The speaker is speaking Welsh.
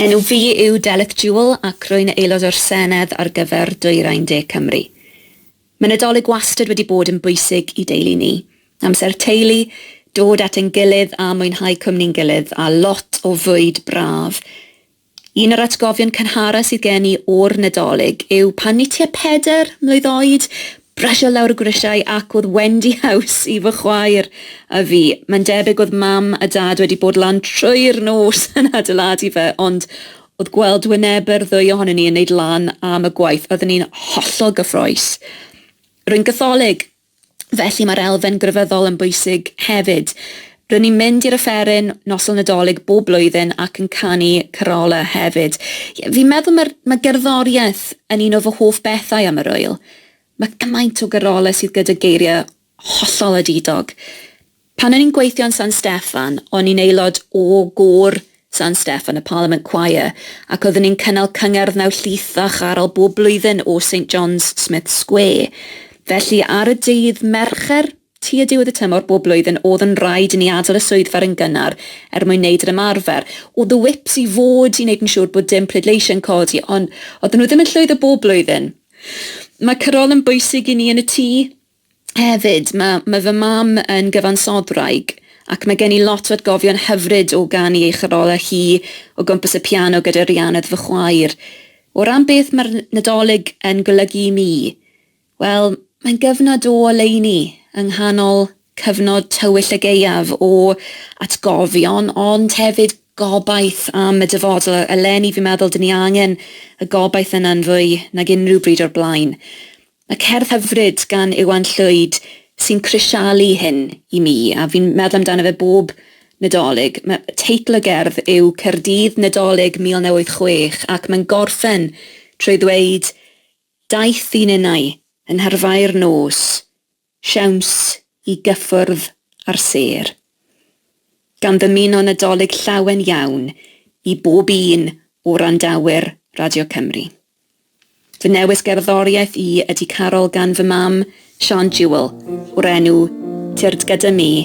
Enw fi yw Delyth Jewell ac rwy'n Aelod o'r Senedd ar gyfer Dwyrain De Cymru. Mae Nadolig wastad wedi bod yn bwysig i deulu ni. Amser teulu, dod at ein gilydd a mwynhau cwmni'n gilydd a lot o fwyd braf. Un o'r atgofion cynharaf sydd gen i o'r Nadolig yw pan ni tua pedair mlwydd oed, brysio lawr y grisiau ac oedd Wendy House i fy chwaer a fi. Mae'n debyg oedd Mam a Dad wedi bod lan trwy'r nos yn adeiladu fe ond oedd gweld wynebe'r ddwy ohonon ni yn neud lan am y gwaith, oedden ni'n hollol gyffrous. Rwy'n Gatholig! Felly mae'r elfen grefyddol yn bwysig hefyd. Rŷn ni'n mynd i'r offeryn Noson Nadolig bob blwyddyn ac yn canu carolau hefyd. Ie, fi'n meddwl mae'r, mae gerddoriaeth yn un o fy hoff bethau am yr ŵyl. Mae cymaint o garolau sydd gyda geiriau hollol adidog. Pan o'n i'n gweithio yn San Steffan, o'n i'n aelod o gôr San Steffan, y Parliament Choir, ac oeddwn i'n cynnal cyngerdd mewn llith a charol bob blwyddyn o Saint John's, Smiths Square. Felly, ar y dydd Mercher, tua diwedd y tymor bob blwyddyn, o'dd yn raid i ni adel y swyddfa run gynnar er mwyn neud yr ymarfer. O'dd y whips i fod i neud yn siŵr bod dim pleidleisiau'n codi, ond oedden nhw ddim yn llwyddo bob blwyddyn. Mae carol yn bwysig i ni yn y tŷ. Hefyd, mae, mae fy mam yn gyfansodwraig, ac mae gen i lot o atgofion hyfryd o ganu ei chorolau hi o gwmpas y piano gyda Rhianedd fy chwaer. O ran beth mae'r Nadolig yn golygu i mi, wel, mae'n gyfnod o oleuni yng nghanol cyfnod tywyll y gaeaf o atgofion, ond hefyd gobaith am y dyfodol. Eleni, fi'n meddwl, dyn ni angen y gobaith yna'n fwy nag unrhyw bryd o'r blaen. Mae cerdd hyfryd gan Iwan Llwyd sy'n crisialu hyn i mi, a fi'n meddwl amdano fe bob Nadolig. Mae teitl y gerdd yw 'Caerdydd, Nadolig 1986' ac mae'n gorffen trwy ddweud, 'Daeth un innau, yn nharfau'r nos, siawns i gyffwrdd â'r sêr, gan ddymuno Nadolig llawen iawn i bob un o wrandawyr Radio Cymru. Fy newis gerddoriaeth i ydy Carol gan fy mam, Siân Jewell, o'r enw Tyrd Gyda Mi,